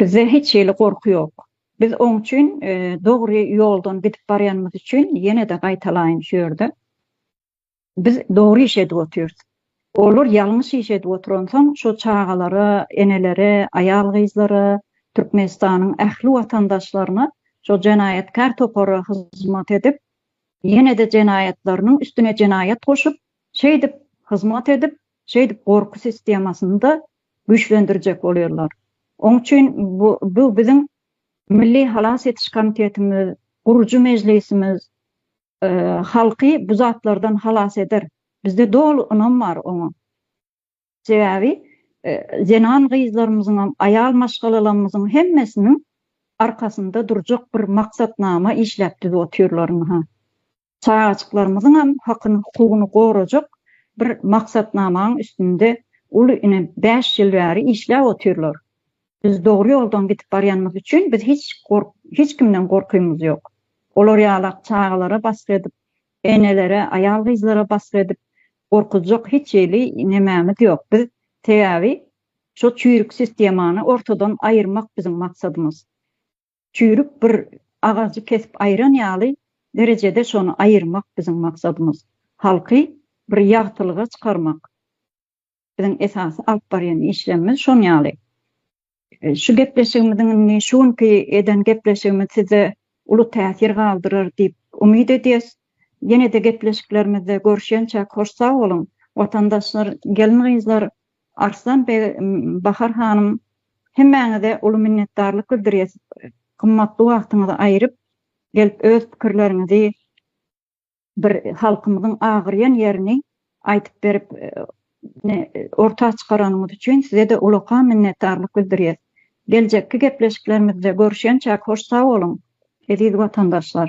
Bizde hiç hili gorky ýok. Biz oň üçin dogry ýoldan gidip barýanymyz üçin ýene-de gaýtalaýyn şu ýerde. Biz dogry iş edip otyrys. Olar ýalňyş iş edip oturansoň şu çagalara, enelere, aýal-gyzlara, Türkmenistanyň ähli watandaşlaryna şu jenaýatkär topara hyzmat edip, ýene-de jenaýatlarynyň üstüne jenaýat goşup, şeýdip hyzmat edip, Şeýdip gorky sistemasyny-da güýçlendirjek bolýarlar. Oň üçin bu biziň Milli halas ediş komitetimiz, gurujy mejlisimiz halky bu zatlardan halas eder. Bizde doly ynam bar oňa. Sebäbi zenan gyzlarymyzyňam, aýal maşgalalamyzyň hemmesiniň arkasynda durjak bir maksatnama işläp düzüp otyrlarynha. çagajyklarymyzyňam hakyny hukugyny gorajak bir maksatnamaň üstünde uly ine bäş ýyl bäri işläp otyrlar biz dogry ýoldan gidip barýanymyz üçin biz hiç gork hiç kimden gorkymyz ýok olar ýalak çagalara basgy edip enelere aýal gyzlara basgy edip gorkuzjak hiç hili nemämiz ýok biz sebäbi şo çüýrük sistemany ortadan aýyrmak biziň maksadymyz çüýrük bir agajy kesip aýran ýaly derejede şony aýyrmak biziň maksadymyz. Halky bir ýagtylyga çykarmak biziň esasy alyp barýan işlerimiz şon ýaly. Şu gepleşigimiziň indi şu günki eden gepleşigimiz sizde uly täsir galdyrar diýip umyt edýäs. Ýene-de gepleşiklerimizde görşençäk hoş sag boluň. Watandaşlar, gelin-gyzlar Arslan beg, Bahar hanym, hemmäňize uly minnetdarlyk bildirýäs, gymmatly wagtyňyzy aýryp gelip öz pikirleriňizi, bir halkymyzyň agyrýan ýerini aýdyp berip, ne orta çykaranyňyz üçin size-de ulakan minnetdarlyk bildirýäs. Geljekki gepleşiklerimizde görüşençäk hoş sag boluň, eziz watandaşlar!